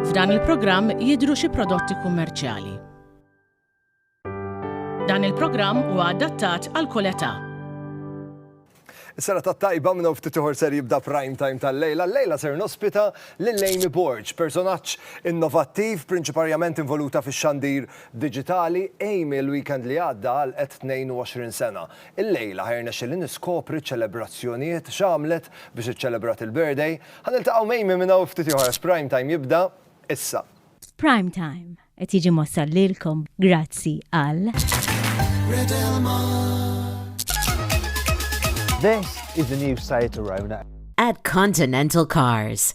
F'dan il-programm jidhru xi prodotti kummerċjali. Dan il-programm huwa adattat għal kull età. Sena ta' tajba minnu ftit uħor ser jibda prime time tal-lejla. Lejla ser nospita l-Lejmi Borġ, personaċ innovattiv, prinċiparjament involuta fi xandir Diġitali, Amy l-weekend li għadda għalqet 22 sena. Illejla ħa jirnexxieli niskopri ċ-ċelebrazzjonijiet, x'għamlet biex iċċelebrat il-birthday. Ħa niltaqgħu m'Amy minn hawn ftit ieħor għax Prime Time jibda issa. Prime Time qed jiġi mwassal lilkom grazzi għal. This is the new site to Rona. At Continental Cars.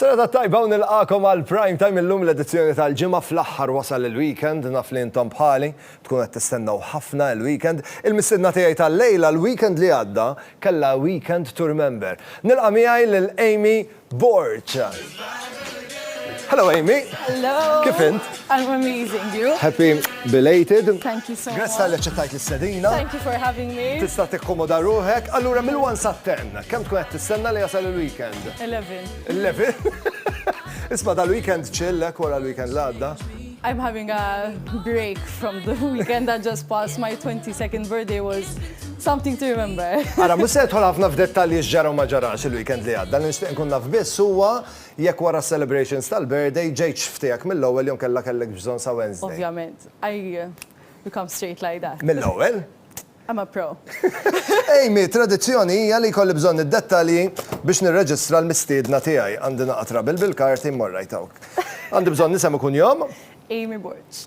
Serata tajba u nilqagħkom għal Prime Time illum l-edizzjoni tal-Ġimgħa fl-aħħar wasal il-weekend naf li intom bħali tkunu qed tistennew ħafna il-weekend il-mistiedna tiegħi tal-lejla l-weekend li għadda kellha weekend to remember nilqa' miegħi lil Amy Borg Hello Amy Hello Kif int? I'm amazing you? Happy belated Thank you so much Grazzi tal aċċettajt l-istedina Thank you for having me Tista' tikkomoda ruħek allura mill-1 sat-10 kemm tkun qed tistenna li jasal il-weekend? 11. 11? Isma dal-weekend chill, ek eh, wara l-weekend l-għadda. I'm having a break from the weekend that just passed. My 22nd birthday was something to remember. Ara, mux se jitħol ħafna f'dettalji xġara ma ġarax il-weekend li għadda, nishtiq nkun naf biss huwa jekk wara celebrations tal-birthday ġejċ ftijak mill-ewwel jom kella kellek bżon sa Wednesday. Ovvjament, I become straight like that. Mill-ewwel? I'm a pro. Amy, Tradizzjoni hija li jkolli bżonn id-dettalji biex nirreġistra l-mistiedna tiegħi. Għandi naqgħa trabil bil-karti, mmorr right hawn. Għandi bżonn isem u kunjom. Amy Borg.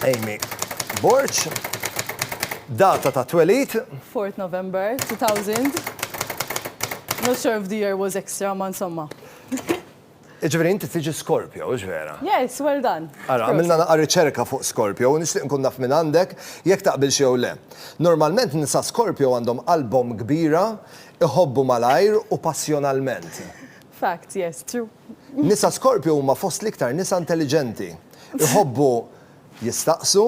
Amy Borg. Data ta' twelid. 4th November 2000. Not sure if the year was extra, ma insomma. Jiġifieri inti tiġi Scorpio, hux vera? Yes, well done. Ara, għamilna naqra riċerka fuq Scorpio u nixtieq nkun naf minn għandek jekk taqbilx jew le. Normalment nisa Scorpio għandhom qalbhom kbira, iħobbu malajr u passjonalment. Fact, yes, true. Nisa Scorpio huma fost l-iktar nisa intelliġenti. Iħobbu jistaqsu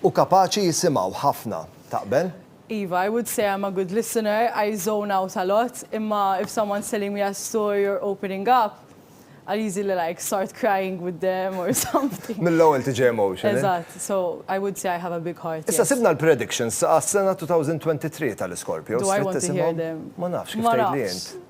u kapaċi jisimgħu ħafna. Taqbel? Iva, I would say I am a good listener, I zone out a lot, imma if someone's telling me a story or opening up, I'll easily like start crying with them or something. Mill-ewwel tiġi emotional. Eżatt, so I would say I have a big heart, yes. Issa sibna l-predictions għas-sena 2023 tal-Iscorpios. Do I want to hear them? Ma nafx, kif tgħidli int? Ma nafx.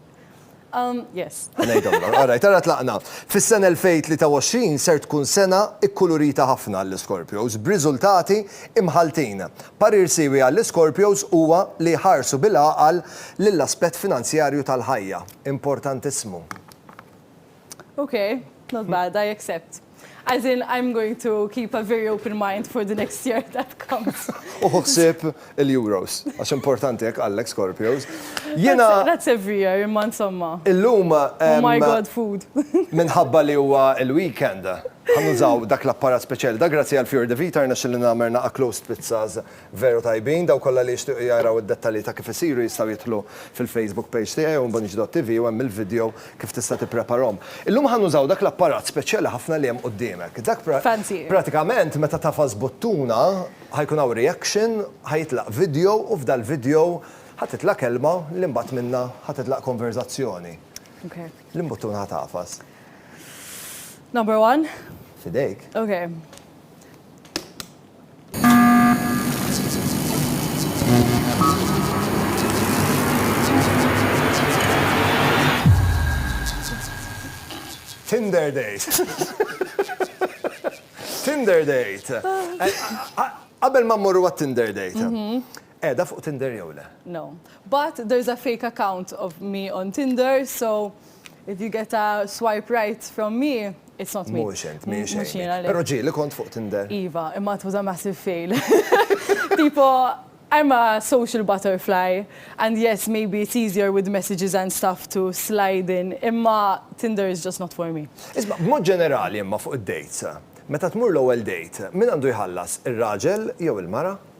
Yes. Ngħidhomlok. All right, ara tlaqna. Fis-sena 2023 ser tkun sena kkulurita ħafna għall-Iscorpios, b'riżultati imħalltin. Parir siewi għall-Iscorpios huwa li jħarsu bil-għaqal lill-aspett finanzjarju tal-ħajja. Importantissimu. Ok, not bad, I accept. As in, I'm going to keep a very open mind for the next year that comes. Uħu ħsib il-Euros, għax importanti jek għallek Scorpios. Jena. That's every year, imma insomma. Illum. Oh my god, food. Minħabba li huwa il-weekend. Għannużaw dak l-apparat speċjali. Da grazzi għal Fjord Vita, rna xillina merna a closed pizzas Veru tajbin, dawk kollha li jixtiequ jaraw id-dettalji ta' kif isiru jistgħu jidħlu fil-Facebook page tiegħi onbonġ.tv u hemm il-vidjo kif tista' tippreparahom. Illum ħa nużaw dak l-apparat speċjali ħafna li hemm quddiemek. Dak pra, Fancy. pratikament meta tagħfas buttuna ħa jkun hawn reaction, ħa jitlaq vidjo u f'dal-vidjo ħa titlaq kelma li mbagħad minnha ħa titlaq konverżazzjoni. Ok. Liem buttuna ħa tagħfas? Number one. F'idejk. Ok. Tinder date. Tinder date. Qabel ma mmorru għat-Tinder date. Qiegħda fuq Tinder jew le? No. But there's a fake account of me on Tinder so if you get a swipe right from me it's not me. Mhux int, mhix Amy. Però ġieli kont fuq Tinder. Iva, imma it was a massive fail. Tipo I'm a social butterfly and yes maybe it's easier with messages and stuff to slide in imma Tinder is just not for me. Isma' b'mod ġenerali imma fuq id-dates, meta tmur l-ewwel date, min għandu jħallas, ir-raġel jew il-mara?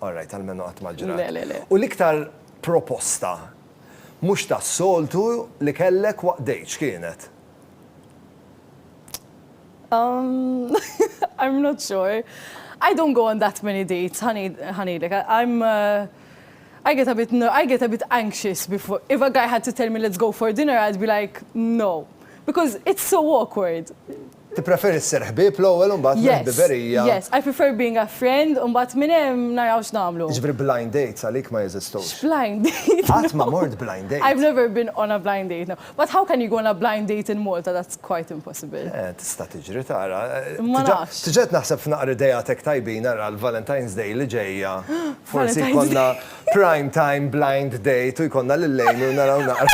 All right, almenu qatt ma ġrat. Le, le, le. U l-iktar proposta mhux tas-soltu li kellek waqt date x'kienet? Umm, I'm not sure. I don't go on that many dates, ħa ngħidlek. I'm, I get a bit, I get a bit anxious before, if a guy had to tell me let's go for dinner, I'd be like, no. Because it's so awkward. Tippreferi ssir ħbieb l-ewwel u mbagħad minn ħbiberija. Yes, yes, I prefer being a friend u mbagħad minn hemm naraw x'nagħmlu. Jiġifieri blind dates għalik ma jeżistux? X'blind date? Qatt ma mort blind date. I've never been on a blind date, no. But how can you go on a blind date in Malta, that's quite impossible. Eh, tista' tiġri tara. Ma nafx. Tiġa qed naħseb f'naqra ideat hekk tajbin ara l-Valentine's Day li ġejja forsi jkollna Prime time blind date u jkollna lil Amy u naraw naqra.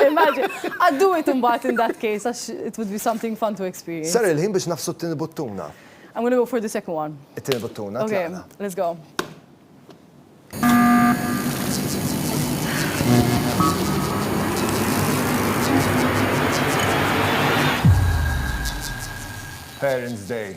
Immaġina. I'd do it imbagħad in that case għax it would be something fun to experience. Sar il-ħin biex nagħfsu t-tieni buttuna. I'm gonna go for the second one. It-tieni buttuna, tlaqna. Ok, let's go. Parents' Day.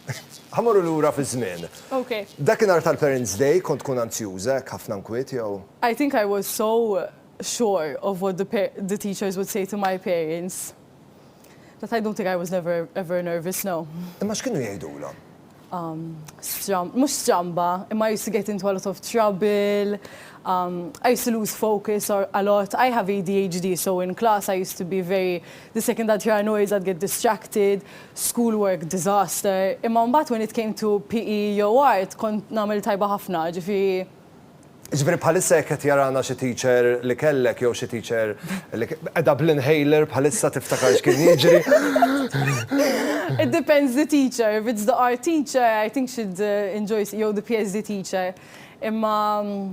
Ħa mmorru lura fiż-żmien. Ok. Dakinhar tal-Parents' Day kont tkun anzjuża hekk ħafna nkwiet jew? I think I was so sure of what the the teachers would say to my parents that I don't think I was never ever nervous, no. Imma x'kienu jgħidulhom? Umm stram mhux stramba, imma I used to get into a lot of trouble, umm I used to lose focus or a lot. I have ADHD so in class I used to be very the second I'd hear a noise I'd get distracted. school work disaster, imma mbagħad when it came to PE jew art kont nagħmel tajba ħafna, ġifieri. Jiġifieri bħalissa jekk qed jarana xi teacher li kellek jew xi teacher li qiegħda bl-inhaler bħalissa tiftakar x'kien jiġri? It depends the teacher, if it's the art teacher I think she'd enjoy, jew the PhD teacher, imma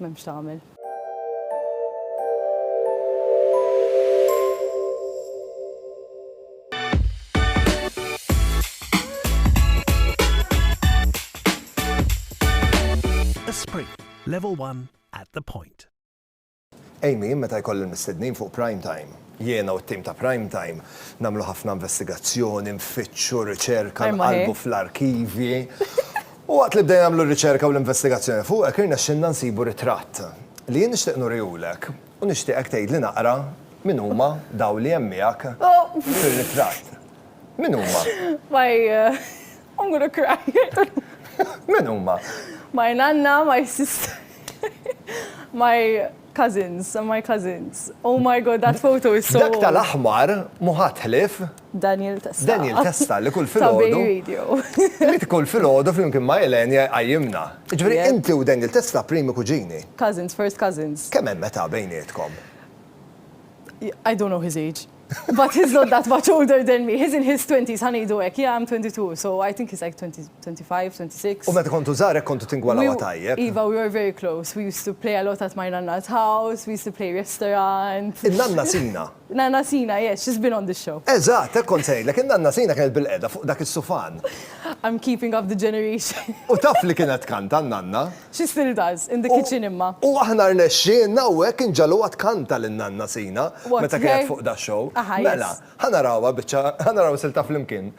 M'hemm x'tagħmel. Esprit, level one at the point. Amy, meta jkolli l-mistednin fuq Prime Time, jiena u t-tim ta' Prime Time nagħmlu ħafna investigazzjoni, nfittxu, riċerka, nqallbu fl-arkivji. U waqt li bdejna nagħmlu r-riċerka u l-investigazzjoni fuqek irnexxilna nsibu ritratt li jien nixtieq nurihulek u nixtieqek tgħidli naqra min huma dawn li hemm miegħek fir-ritratt. Min huma? My I'm gonna cry. Min huma? My nanna, my sister, my cousins, my cousins. Oh my God, that photo is so old. Dak tal-aħmar mhu ħadd ħlief Daniel Testa. Daniel Testa li kull filgħodu. Li kull filgħodu flimkien ma' Elaine jqajjimna. Jiġifieri inti u Daniel Testa primi kuġini. Cousins, first cousins. Kemm hemm età bejnietkom? I don't know his age. But he's not that much older than me. He's in his twenties, ħa ngħidu hekk. Yeah, I'm 22, so I think he's like 20, 25, 26. U meta kontu żgħar hekk kontu tingwalawha tajjeb. Iva, we were very close. We used to play a lot at my nanna's house, we used to play restaurant. In-nanna Sina. Nanna Sina, yes, she's been on this show. Eżatt, hekk kont se ngħidlek, in-Nanna Sina kienet bilqiegħda fuq dak is-sufan. I'm keeping up the generation. U taf li kienet tkanta n-Nanna? She still does, in the kitchen imma. U aħna rnexxielna hawnhekk inġagħluha tkanta lin-Nanna Sina meta kienet fuq da' show. Mela, ħa narawha biċċa, ħa naraw silta flimkien.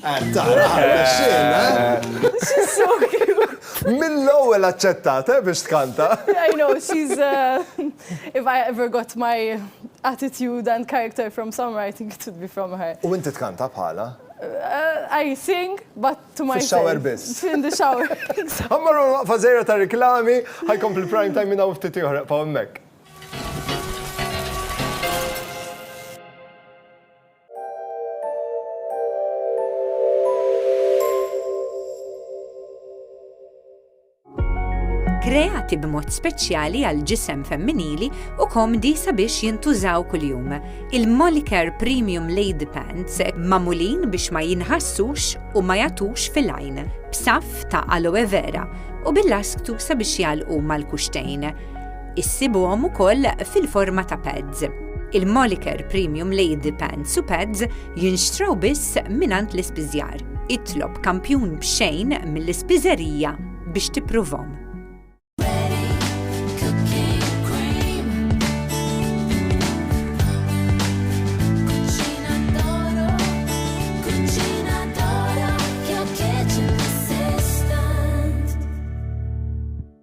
Qed tara, rnexxielna, eh? Mill-ewwel aċċettat, eh, biex tkanta. I know, she's uh, if I ever got my attitude and character from somewhere, I think it would be from her. U inti tkanta bħala? Uh, I sing, but to myself. Shower biss. In the shower. Għammaru waqfa zejra ta' reklami, ħajkom fil-prime time minna uftit joħraq pa' kreati b'mod speċjali għal ġisem femminili u komdi sabiex jintużaw kuljum. Il-Molicare Premium Lady Pants mamulin biex ma jinħassux u ma jatux fil-għajn, b'saf ta' aloe vera u bil-lasktu sabiex jalqu mal-kuxtejn. Issibuhom ukoll fil-forma ta' pads. Il-Moliker Premium Lady Pants u Pads jinxtraw biss mingħand l-ispiżjar. Itlob kampjun b'xejn mill-ispiżerija biex tippruvhom.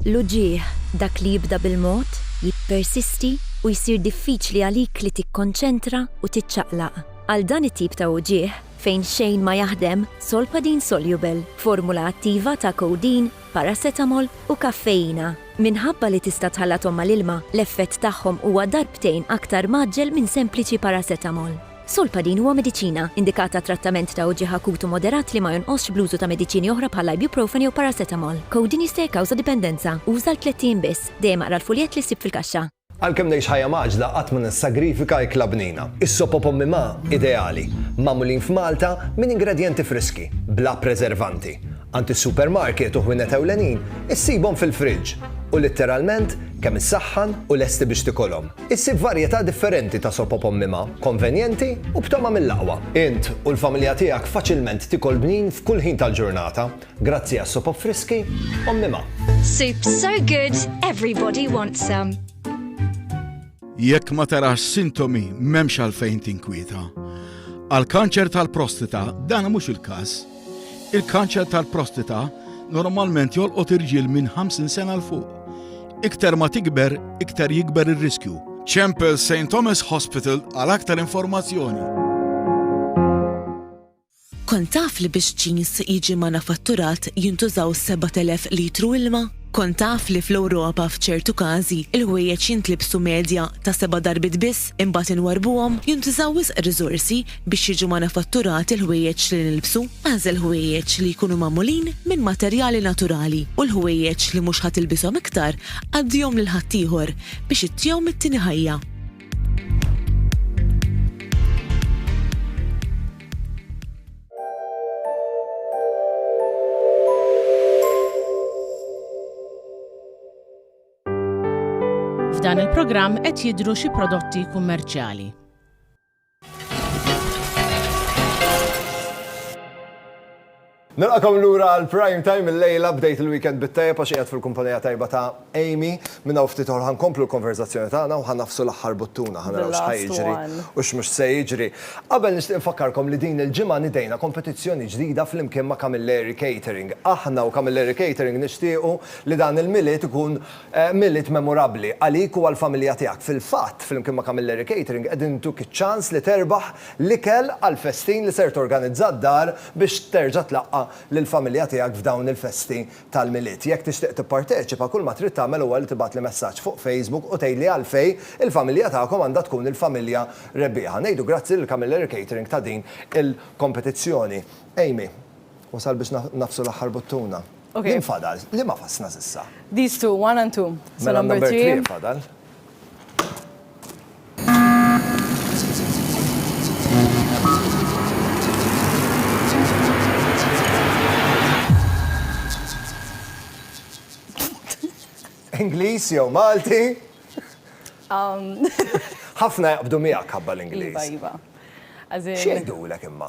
L-uġigħ, dak li jibda bil-mod, jippersisti u jsir diffiċli għalik li tikkonċentra u tiċċaqlaq. Għal dan it-tip ta' uġigħ, fejn xejn ma jaħdem, Solpadeine Soluble, formula attiva ta' codeine, paracetamol u kaffeina. Minħabba li tista' tħallathom mal-ilma, l-effett tagħhom huwa darbtejn aktar mgħaġġel minn sempliċi paracetamol. Solpadin huwa mediċina, indikat għat-trattament ta' uġigħ akut u moderat li ma jonqosx bl-użu ta' mediċini oħra bħall-ibuprofen jew paracetamol. Codeine jista' jikkawża dipendenza. Uża għal tlett ijiem biss. Dejjem aqra l-fuljett li ssib fil-kaxxa. Għalkemm ngħix ħajja mgħaġġla qatt ma nissagrifika ikla bnina. Is-sopop Ommi Ma ideali, magħmulin f'Malta minn ingredjenti friski, bla preservanti. Għand is-supermarket u ħwienet ewlenin issibhom fil-fridge u litteralment kemm issaħħan u lesti biex tikolhom. Issib varjetà differenti ta' sopop ommima, konvenjenti u b'tama mill-aqwa. Int u l-familja tiegħek faċilment tikol bnin f'kull ħin tal-ġurnata grazzi għas-sopop friski ommima. Soup so good, everybody wants some. Jekk ma tarax sintomi m'hemmx għalfejn tinkwieta. Għall-kanċer tal-prostata dan mhux il-każ. Il-kanċer tal-prostata normalment jolqot irġiel minn 50 sena 'l fuq. Iktar ma tikber, iktar jikber ir-riskju. Ċempel St Thomas Hospital għal aktar informazzjoni. Kont taf li biex ġins jiġi manufatturat jintużaw 7,000 litru ilma? Kont taf li fl-Ewropa f'ċertu każi il-ħwejjeġ jintlibsu medja ta' seba' darbiet biss imbagħad inwarrbuhom? Jintużaw wisq riżorsi Biex jiġu manifatturati l-ħwejjeġ li nilbsu, agħżel ħwejjeġ li jkunu magħmulin minn materjali naturali u l-ħwejjeġ li mhux ħa tilbishom iktar għaddihom lil ħaddieħor biex ittihom it-tieni ħajja. F'dan il-programm qed jidhru xi prodotti kummerċjali. Nilqakom lura għal prime time il-lejla bdejt il-weekend bit-tajja pa xieqed fil-kumpanija tajba ta' Amy. Minna u ftitoħor ħan komplu l-konverzazzjoni tagħna u ħan nafsu l-aħħar buttuna ħan naraw xħajġri u x'mhux se jiġri. Qabel nixtieq nfakkarkom li din il-ġimgħa nidejna kompetizzjoni ġdida flimkien ma' Camilleri Catering. Aħna u Camilleri Catering nixtiequ li dan il-Milied ikun Milied memorabbli għalik u għall-familja tiegħek. Fil-fatt, flimkien ma' Camilleri Catering qegħdin intuk iċ-ċans li terbaħ l-ikel għall-festin li ser torganizza d-dar biex terġa' tlaqqa' lill-familja tiegħek f'dawn il-festi tal-Milied. Jekk tixtieq tipparteċipa, kull ma trid tagħmel huwa li tibgħatli messaġġ fuq Facebook u tgħidli għalfejn il-familja tagħkom għandha tkun il-familja rebbieħa. Ngħidu grazzi lil Camilleri Catering ta' din il-kompetizzjoni. Amy, wasal biex nagħfsu l-aħħar buttuna. Min fadal? Liema fasna s'issa? These two, one and two. Mela number three fadal. Ingliż jew Malti? Um. Ħafna jaqbdu miegħek ħabba l-Ingliż. Iva, iva. X'jgħidulek imma?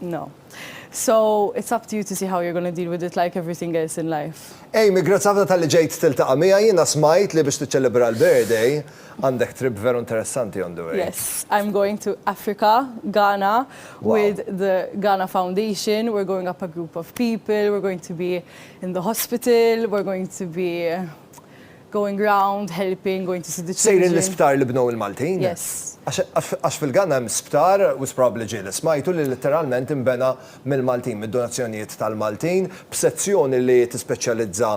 No. So, it's up to you to see how you're gonna deal with it like everything else in life. Amy, grazzi ħafna talli ġejt tiltaqa' miegħi. Jiena smajt li biex tiċċelebra l-birthday għandek trip veru interessanti on the way. Yes, I'm going to Africa, Ghana with the Ghana Foundation. We're going up a group of people, we're going to be in the hospital, we're going to be Going round, helping, going to see the children. Sejrin l-isptar li bnew il-Maltin? Yes. Għax fil-Ghana hemm sptar, u probabbli ġie li smajtu, li litteralment inbena mill-Maltin, mid-donazzjonijiet tal-Maltin, b'sezzjoni li tispeċjalizza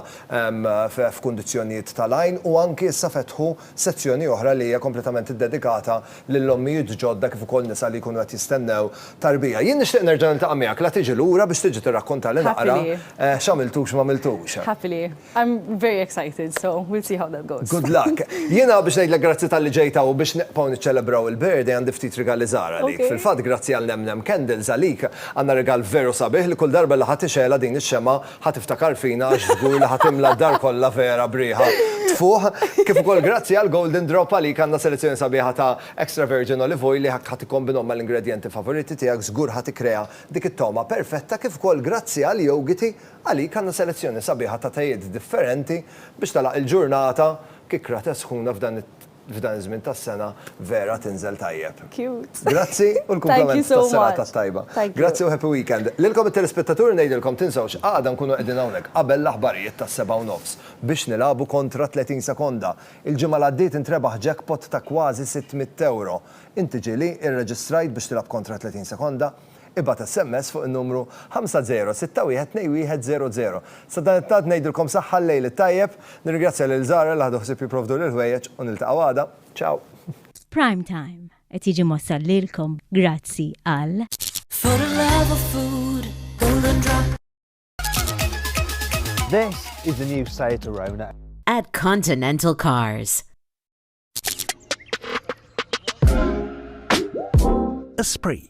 f'kundizzjonijiet tal-għajn u anki issa fetħu sezzjoni oħra li hija kompletament iddedikata lil ommijiet ġodda kif ukoll nisa li jkunu qed jistennew tarbija. Jien nixtieq nerġa' niltaqa' miegħek la tiġi lura biex tiġi tirrakkontalna naqra x'għamiltu u x'm'għamiltux. Happily. I'm very excited, so we'll see how that goes. Good luck. Jiena biex ngħidlek grazzi talli ġejt hawn u biex nibqgħu niċċelebraw il-birthday għandi ftit rigali żgħar għalik. Ok. Fil-fatt grazzi għal Nem Nem Candles għalik għandna rigal veru sabiħ li kull darba li ħa tixgħelha din ix-xemgħa ħa tiftakar fina għax żgur li ħa timla d-dar kollha vera b'riħa tfuħ. Kif ukoll grazzi għal Golden Drop għalik għandna selezzjoni sabiħa ta' extra virgin olive oil li hekk ħa tikkombinhom mal-ingredjenti favoriti tiegħek żgur ħa tikkrea dik it-togħma perfetta kif ukoll grazzi għal Yogiti Għalik għandna selezzjoni sabiħa ta' tejiet differenti biex tagħlaq il-ġurnata, kikrate sħuna f'dan f'dan iż-żmien tas-sena vera tinżel tajjeb. Cute. Grazzi u l-kumplament tas-serata t-tajba. Grazzi u happy weekend. Lilkom it-telespettaturi ngħidilkom tinsewx għada nkunu qegħdin hawnhekk qabel l-aħbarijiet tas-sebgħa u nofs biex nilagħbu kontra 30 sekonda. Il-ġimgħa li għaddiet intrebaħ jackpot ta' kważi 600 ewro. Inti ġieli irreġistrajt biex tilgħab kontra 30 sekonda? Ibgħat SMS fuq in-numru 50612100. Sa dan it-tant ngħidilkom saħħa l-lejl it-tajjeb. Nirringrazzja lil Zara li ħadu ħsieb jipprovdu l-ħwejjeġ u niltaqgħu għada. Ciao! Prime Time qed jiġi mwassal lilkom grazzi għal. For the love of food, golden drop. This is the new Seat Arona. At Continental Cars. Esprit.